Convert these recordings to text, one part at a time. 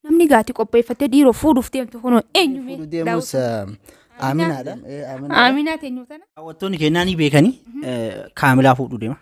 Namni gaati qopheeffattee dhiiroo fuudhuuf deemtu kunoo eenyu mee? Fuudhu deemus eh, Aaminaadha. Eh, Aaminaadha. Aaminaa teenyu tana. Daawwattoonni keenyaa ni beekanii eh, kaamilaa fuudhu deema.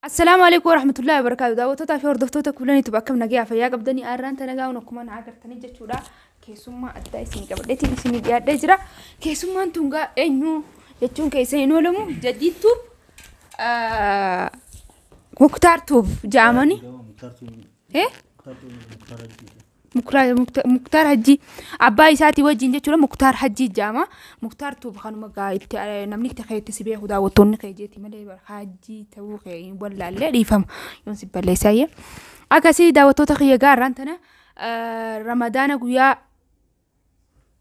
Assalaamu alaikum warahmatullahi wabarakaatu daawwattoota fi hordoftoota kuulan YouTube akkam nagayaa fayyaa qabdanii aarraan tanagaa hun akkuma na agartanii jechuudha keessummaa addaa isin qabadheetiin isin dhiyaadhee jira keessummaan tungaa eenyu jechuun keessa hin oolamu jaddiittuuf muktaar tuuf jaamani Mukra- Mukta- muktaar hajjii abbaa isaatii wajjin jechuudha muktaar hajjii jaama muktaar tuuba kanuma gaa itti eh, namni itti kee itti si beeku daawwattoonni kee jeeti malee bara hajjii ta'uu kee hin wallaallee dhiifama yoon si balleessaayyee akkasii daawwattoota kiyya gaarraan tana eh, ramadaana guyyaa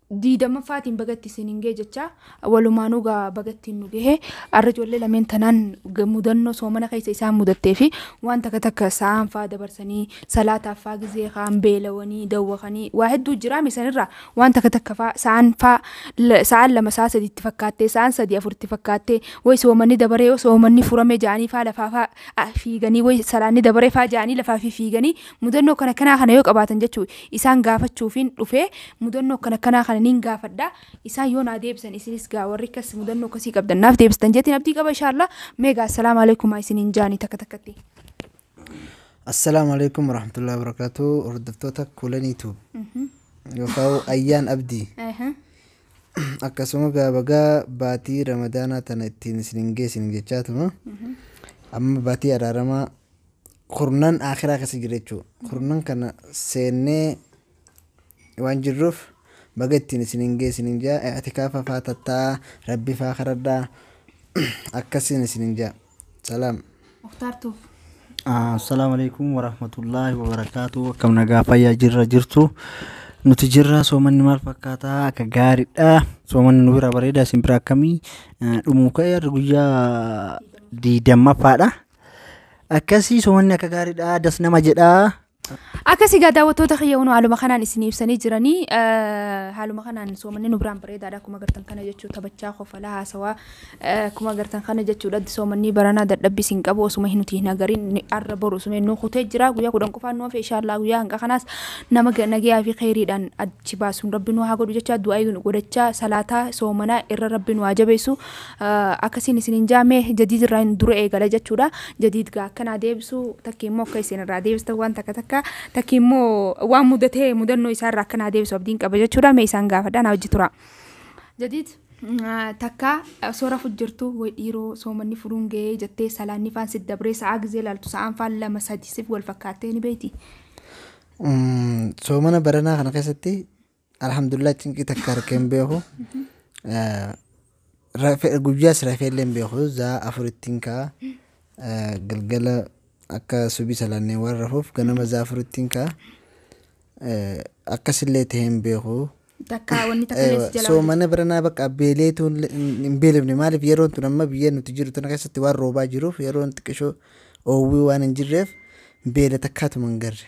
20ffaatiin baga itti isin hin ga'e jechaa walumaanuu gaa baga ittiin nu gahe arra ijoollee lameen tanaan ga- mudannoo soomana keessa isaan mudattee fi waan takka takka sa'aan faa dabarsanii salaataaf faa gizee kaan beelawanii dawwakanii waa hedduu jiraame sanirraa waan takka takka faa sa'aan faa la- sa'aan lama sa'a sadi itti fakkaattee sa'aan sadi afur itti fakkaattee way soomanni dabaree yoo soomanni furamee ja'anii faa lafaa faa ah, fiiganii way salaanni dabaree faa ja'anii lafaa fi fiiganii Mudannoo kana kanaa kana yoo qabaatan jechuu isaan gaafachuufiin dhufee mudannoo kana kanaa kana niin gaafadha isaan yoo naa deebisan isinis gaa warri kas mudannoo kasii qabdan naaf deebistan jetiin abdii qaba inshaallah meegaa assalaamu alaikum isiniin jaanii takka takkatti. Assalaamu alaikum warahmatullahi wabarakatuh hordoftoota kuulan YouTube yookaan ayyaan abdii akkasuma gaabagaa baatii ramadaanaa tana ittiin isiniin geessin jechaa tuma amma baatii araaramaa kurnan aakhiraa keessa jirra jechuudha. Kurnan kana seennee waan jirruuf baga ittiin isin hin gee isin hin jaa i'tikaafa faa tattaa rabbi faa karadhaa akkasiin isin hin jaa. Salaam. Muktaar Tuuf. Assalaamu alaikum warahmatullaahi wabarakaatu akkam nagaa fayyaa jirra jirtu nuti jirra soomanni maal fakkaataa akka gaariidha soomanni nu bira bareeda isin bira akkamii Eh, dhumuu ka'e har'a guyyaa diidamaffaadha Akkasii somanni akka gaariidha das nama jedhaa. Akkasii egaa daawwattoota kiyya hunoo haaluma kanaan isin ibsanii jiranii eh, haaluma kanaan soomanni nu biraan bareedaadha akkuma agartan kana jechuu taphachaa kofalaa haasawaa eh, akkuma agartan kana jechuudha soomannii baranaa dadhabbii isin qabu osuma hin nuti hin agarin ni- arra boru osuma hin nu kutee jira guyyaa kudhan qofaan nu hafe inshaallah guyyaa hanga kanaas nama ga- nagayaa fi kheyriidhaan achi baasuun rabbi nu haa godhu jechaa du'aa nu godhachaa salaataa soomanaa irra rabbi nu haa jabeessu akkasiin isin hin jaamee jadiid irraa hin dura eegala jechuudha jadiid gaa akkanaa deebisu takki immoo akka isin irraa deebistan waan takka takka takki immoo waan mudatee mudannoo isaa irraa akkanaa deebisu abdiin qaba jechuudha mee isaan gaafadha naa hojji tura jadiid takka osoo rafu jirtu way dhiiroo soomanni furuun ga'ee jettee salaanni faan si dabree sa'aa gizee laaltu sa'aan faan lama sadi sif wal fakkaattee ni beeyti. Soomana baranaa kana keessatti Alhamdulillah cinqii takka harkee hin beeku. Guyyaas rafee illee hin beeku. Zaa afurittiin ka'a. Galgala akka subii salaannee waan rafuuf ganama zaa afurittiin ka'a. Akkasillee ta'ee hin beeku. Takka wanni takka illee si jala Soomana baranaa bakka beeleetu hin beelofne maaliif yeroon tun amma biyya nuti jiru tana keessatti waan roobaa jiruuf yeroon xiqqishoo oowwii waan hin jirreef beela takkaatuma hin garre.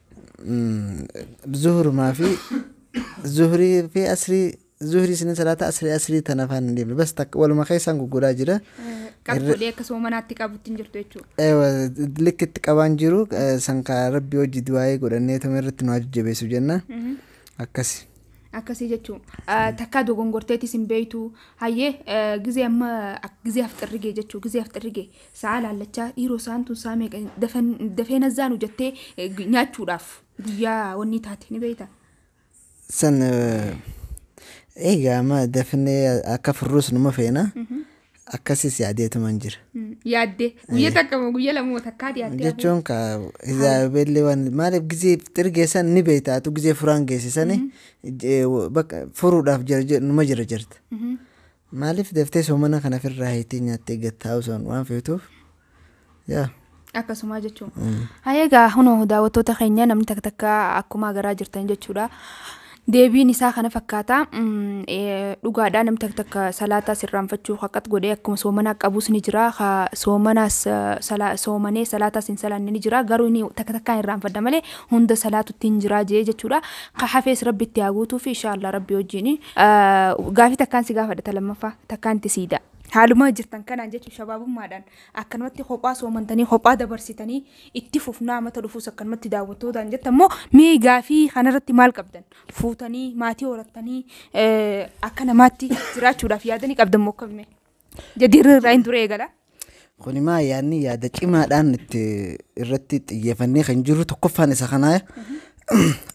zuhurumaa fi zuhurii fi asrii zuhurii isinin salaata asrii asrii tana afaan hin deemne bas takka waluma keessaan gugguraa jira Qab godhee akka soomanaatti qabutti hin jirtu jechuudha. Ewa, likki itti qabaan jiru eh, san ka rabbi hojii du'aa'ee godhannee tuma irratti nu jajjabeessu jenna akkasi Akkasii jechuun takkaa dogongorteetis hin beektu. Hayyee eh, gizee amma ak- gizee afxirrigee jechuu gizee afxirrigee Sa'aa laallachaa dhiiroo sa'aan tun saa meeqa dafee nazzaanu jettee nyaachuudhaaf guyyaa wanni taate ni beeyta. San egaa amma dafnee akka furruus numa feena akkasis yaadeetuman jira. Yaaddee guyya takka moo guyya lamoo takkaati yaaddee. Jechuun ka izaabeellee waan maaliif gizee xirgeessan ni beeytaatu gizee furaan geessisani bakka furuudhaaf numa jira jirta. Maaliif daftee soomana kana firraa hiitee nyaattee gattaa osoon waan feetuuf yaa. Akkasumaa jechuun. Hayee egaa hunoo daawwattoota keenya namni takka takka akkumaa garaa jirtan jechuudha. Deebiin isaa kana fakkaata. Dhugaadhaa namni takka takka salaataa sirraanfachuu haqat godhee akkuma soomanaa qabuus ni jira. Soomanaas soomanee salaataas hin salaanne ni jira. Garuu inni takka takkaan irraanfadha malee hunda salaatutti hin jiraa jee jechuudha. Ka hafees rabbi itti haa guutuufi inshaallaa rabbi wajjin Gaafii takkaan si gaafadha ta lammaffaa takkaan itti siidaa. Haaluma jirtan kanaan jechuun shabaabummaadhaan akkanumatti kophaa soomantanii kophaa dabarsitanii itti fufnaa mata dhufuus akkanumatti daawwattootaan jettan immoo mee gaafii kanarratti maal qabdan fuutanii maatii horattanii akka namaatti jiraachuudhaaf yaadanii qabdan moo akkamii? Jadiirri irraa hin ture eegala. Kuni maa yaadni yaada cimaadhaan itti irratti xiyyeeffannee kan jirru tokkoffaan isa kanaa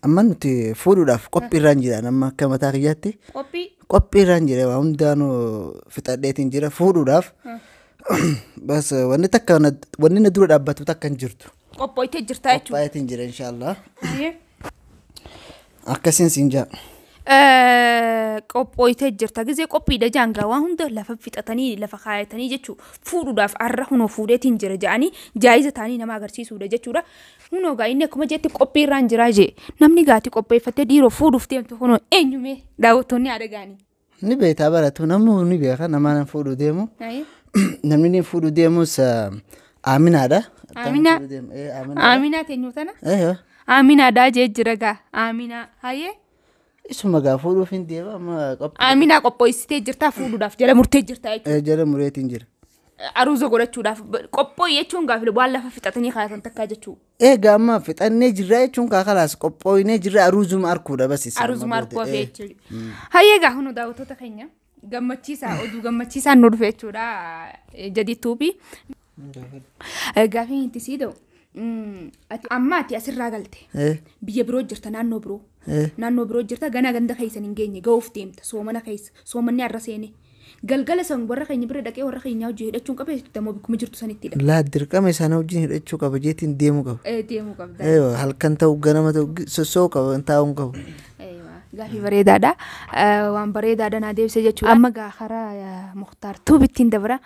amma nuti fuudhuudhaaf qophii irraan jiraan amma akka mataa kiyyaatti Qophii qophii irraan jira waa hundaanuu fixadheetiin jira fuudhuudhaaf bas wanni takka na- wanni na dura dhaabbatu takka hin jirtu. Qophooytee jirtaa jechuudha. Qophaa'eetiin jira inshaallah. Hayyee. Akkasiin siin jaa. Eh, qophooytee jirta gizee qophiidha jaangaa waan hunda lafa fixatanii lafa kaayatanii jechuu fuudhuudhaaf arra hunoo fuudheetiin jira ja'anii jaayiza taanii nama agarsiisuudha jechuudha hunoo gaa inni akkuma jeetti qophii irraan jiraa jee namni gaati qopheeffattee dhiiroo fuudhuuf deemtu hunoo eenyumee daawwattoonni haadha gaanii. Ni beektaa baratu namuu ni beeka namaa nan fuudhu deemu. Ayi. Namni ni fuudhu deemus ah, aaminaadha. Aaminaa. Fuudhu deemu, eh, aaminaadha. Aaminaa teenyu tana. Eh, eh. Aaminaadhaa jee jira gaa. Aaminaa. Hayee. Isuma gaa fuudhuuf hin deema amma qophii. Aaminaa qophoessitee jirtaa fuudhuudhaaf jala murtee jirtaa jechuudha. Eh, Jala mureetiin jira. Aruuza godhachuudhaaf qophoo jechuun gaafile waan lafa fixatanii kaayatan takkaa jechuudha. Eega amma fixannee jirra jechuun kaa kalaas qophooyinee jirra aruuzuma arkuudha bas isa. Aruzuma amma booda. arkuu hafee jechuudha. Hayyee egaa hunu daawwattoota keenya gammachiisaa oduu gammachiisaan nu dhufe jechuudha eh, jadiituubi. Eh, Gaafiin itti sii ta'u mm, ati amma ati asirraa galte Eh, biyya biroo jirta naannoo biroo eh. naannoo biroo jirta ganaa ganda keessan hin geenye ga'uuf deemta soomana keessa soomanni har'a seene Galgala san warra keenya bira dhaqee warra keenyaa wajjin hidhachuun qaba jechuudha ammoo bakkuma jirtu sanitti hidhata. Laa dirqama isaanii wajjin hidhachuu qaba jeetiin deemuu qaba. Eh, Deemuu qabda. Eeywa halkan ta'u ganama ta'u gi- sossoo'uu qaba taa'uu hin qabu. Eeywa, Gaafii bareedaadha. Eh, Waan bareedaadha naa deebise jechuudha. Amma gaa karaa eh, Muktaar Tuub ittiin dabra.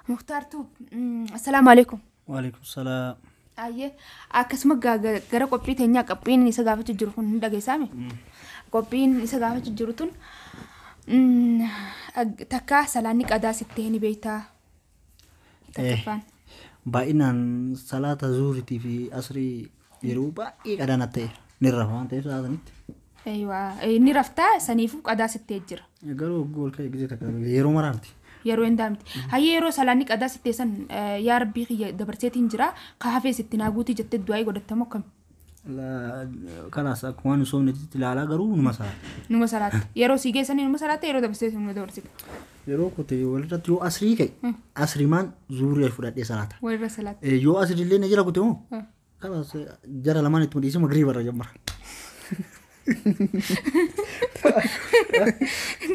Muktaar Tuub, mm, assalaamu alaikum. Waalaikum salaam. Ayyee akkasuma gaa- ga- gara qophii teenyaa qophiin isa gaafachuu jiru kun hin dhageessaame. Qophiin isa gaafachuu jiru tun mm, ag- takkaa salaanni qadaa sitti hin beektaa. Takkaffaan. Baay'inaan salaata zuuritii fi asrii Yeroo baay'ee qadaa natti ta'eera. Ni rafa waan ta'eef sa'a sanitti. Eeywa. Eh, Ni raftaa saniifuu qadaa sittee jira. Garuu hogguu ol ka'e gizee takka yeroo maraa miti. Yeroo hin daamti. Hayyee yeroo salaanni qadaa sittee san eh, yaa rabbii kiyya dabarseetiin jira. Ka hafee sitti naa guutii jettee du'aa'ii godhattamoo akkami? La- Kalaas akkuma waan hin soofnetti ilaalaa garuu numa sa'a. Numa salaatta. Yeroo sii geessanii numa salaatta yeroo dabarseetiin numa dabarsita. yeroo kute walirratti yoo asrii ka'e asrimaan zuurii fudhadhee salaata Walirra salaata. Eh, yoo asriillee na jira kute moo Ah. kanas eh, jara lamaan ittuma dhiisee magriiba irra jammara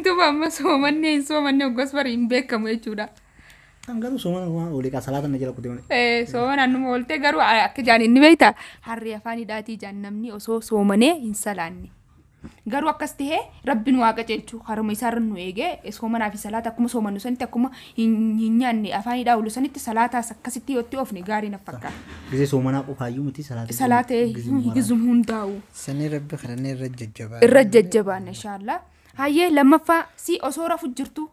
Duuba amma soomanni hin soomanne hoggas bari hin beekamu jechuudha. kan garuu soomana waan olii kaa salaata na jira kute malee Eh, Soomana numa ooltee garuu a- akka jaan inni beekta harree afaan hidhaatii jaan namni osoo soomanee hin salaanne. Garuu akkas tahee Rabbi nu haa qaceelchu karuma isaa irra nu eegee soomanaa fi salaata akkuma soomannu sanitti akkuma hin hin nyaanne afaanii dhaawlu sanitti salaataas akkasitti yoo itti oofne gaarii naf fakkaata. Gizee soomanaa qofaayyuu miti salaata Salaata eh, gizuma maraatu. gizum hundaa'u Sanii rabbi kadhannee irra jajjabaa. irra jajjabaanna inshaallah. Hayyee lammaffaa si osoo rafu jirtu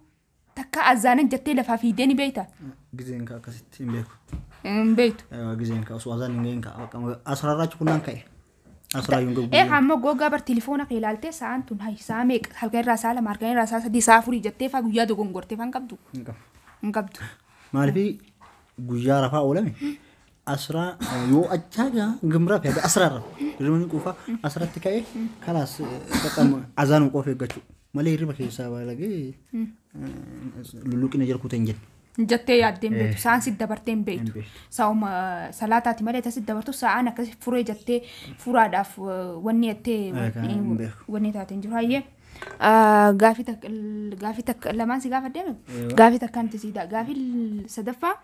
Takka azaanan jattee lafaa fiidee ni beeyta? Gizeen kaa akkasitti hin beeku. Hin beeytu. Egaa gizeen kaa osoo azaan hin ga'in kaa bakka asirarraachi kunnaan ka'e. Asiraa yuun gagguu. Eegaa ammoo googaa bar tilifoona kee ilaaltee sa'aan tun hayi sa'a meeqa halkan irraa sa'a lama halkan irraa sa'a sadii sa'a afurii jattee faa guyyaa dogongortee faa hin qabdu. Hin qabu. Hin qabdu. Maaliif guyyaa rafaa oolame asraa yoo achaa jaa gimraa fi asraarra hirribni quufaa asratti ka'ee kalaas qaqqamu azaan qof eeggachuu malee hirriba keessaa baalagee lulluqina jirkuuta hin jennu. jettee yaaddeen beektu sa'aan si dabartee hin beektu beektu. sa'uma salaataati malee tasi dabartu sa'aan akkasi furee jettee furaadhaaf eh, wanni jettee Egaa hin beeku. wanni taate hin jiru hayyee. Gaafii takka gaafii takka lamaan si gaafadhe gaafii takka nuti si gaafii sadaffaa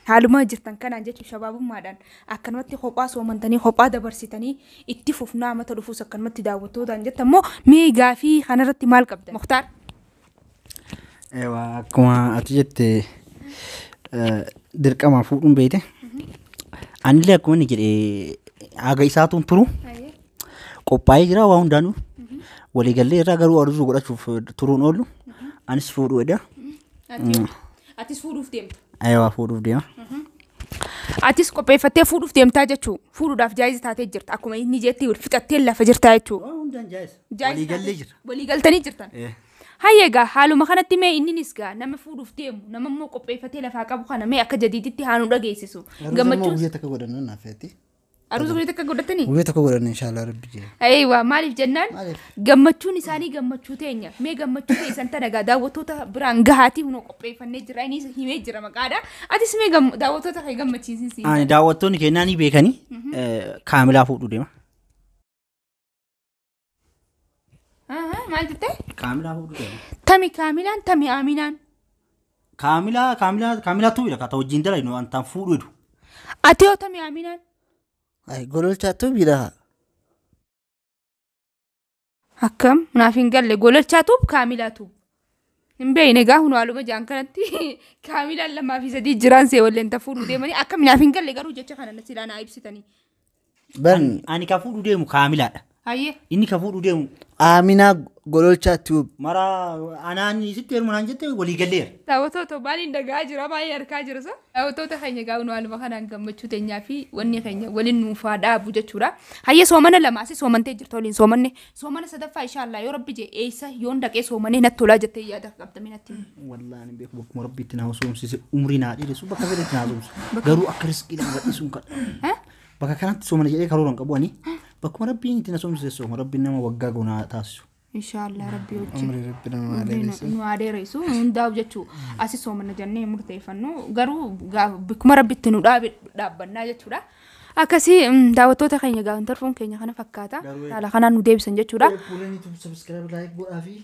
haaluma jirtan kanaan jechuun shabaabummaadhaan akkanumatti kophaa soomantanii kophaa dabarsitanii itti fufnaa mata dhufuus akkanumatti daawwattootaan jettan immoo mee gaafii kanarratti maal qabda muktaar? Eewaa akkuma ati jette eh, dirqama fuudhuun beekte anillee akkuma inni jedhe haga isaatuun turu qophaa'ee jira waa hundaanuu waliigallee irraa garuu aduu godhachuuf turuun oolu anis fuudhuu edha Atis fuudhuuf deemta. ayawaa fuudhuuf deema Atis qopheeffattee fuudhuuf deemtaa jechuu fuudhuudhaaf jaayiza taatee jirta akkuma inni jeetti wal fixattee lafa jirtaa jechuu. waa hundaan jaayisa Jaayiza waliigallee taatee- jira Waliigaltanii jirtan. Eh. Hayya egaa haaluma kanatti mee inninis gaa nama fuudhuuf deemu nama immoo qopheeffatee lafaa qabu kana mee akka jadiiditti haa nu dhageessisu. Gammachuun. guyyaa takka godhanna naaf feeti Aruusa guyyaa takka godhatanii? Guyyaa tokko godhanna inshaallah rabbi jee. Eewa maaliif jennaan Maaliif? gammachuun isaanii gammachuu teenya mee gammachuu keessan tana egaa daawwattoota biraan gahaatii hunoo qopheeffannee jira innis himee jira maqaadha atis mee gam- daawwattoota kee gammachiisisi. Ani daawwattoonni keenyaa ni beekanii eh, kaamilaa fuudhuu deema. Ahaa, Maal jettee? Kaamilaa fuudhuu deema. Tami kaamilaan tami aaminaan. Kaamilaa kaamilaa kaamilaa tuubi lafa ta'u wajjin dalagnu waan ta'an fuudhuu jedhu. Ati yoo tami aaminaan. Ay gololchaa tuubi lafa. Akkam naaf hin galle gololchaa tuub kaamilaa tuub. Hin beekne egaa kun haaluma jaan kanatti kaamilaan lamaa fi sadii jiraan see walleen tafuu nu deemanii akka minaaf hin galle garuu jecha kana silaa naa ibsitanii. Bar Ani ka fuudhu deemu kaamilaadha. Hayyee. Inni ka fuudhu deemu Aaminaa Gololchaa Tube. mara anaan isitti heeruma naan jette walii galleera. Daawwattoota maaliin dhagaa jira maaliin argaa jira sa? Daawwattoota keenya egaa nu haaluma kanaan gammachuu teenyaa fi wanni keenya waliin nuufaa dhaabu jechuudha. Hayyee soomana lamaasi soomantee jirtu waliin soomanne Soomana sadaffaa ishaa Allah yoo rabbi jee eessa yoon dhaqee soomanee natti tolaa jettee yaada qabdamee natti. Wallaahi hin beeku bakkuma rabbiitti naa soomsise umrii naa dheeressu bakka fedhetti naa soomsu garuu akka riskii naa gadhiisuun kadha. Bakka kanatti soomana jedhee karoora hin qabu ani bakkuma rabbiin itti na soomsise sooma rabbiin nama waggaa goonaa taasisu. Inshaallah rabbi wajjin. Umrii rabbi nama adeeressu. Nu adeeressu hundaa'u jechuu asi soomana jennee murteeffannu garuu bakkuma rabbitti nu dhaabe dhaabbannaa jechuudha. Akkasii mm, daawwattoota keenya gaafan tarfuun keenya kana fakkaata. Garuu- Haala kanaan nu deebisan jechuudha. Eebbuuleen YouTube subscribe like godhaa fi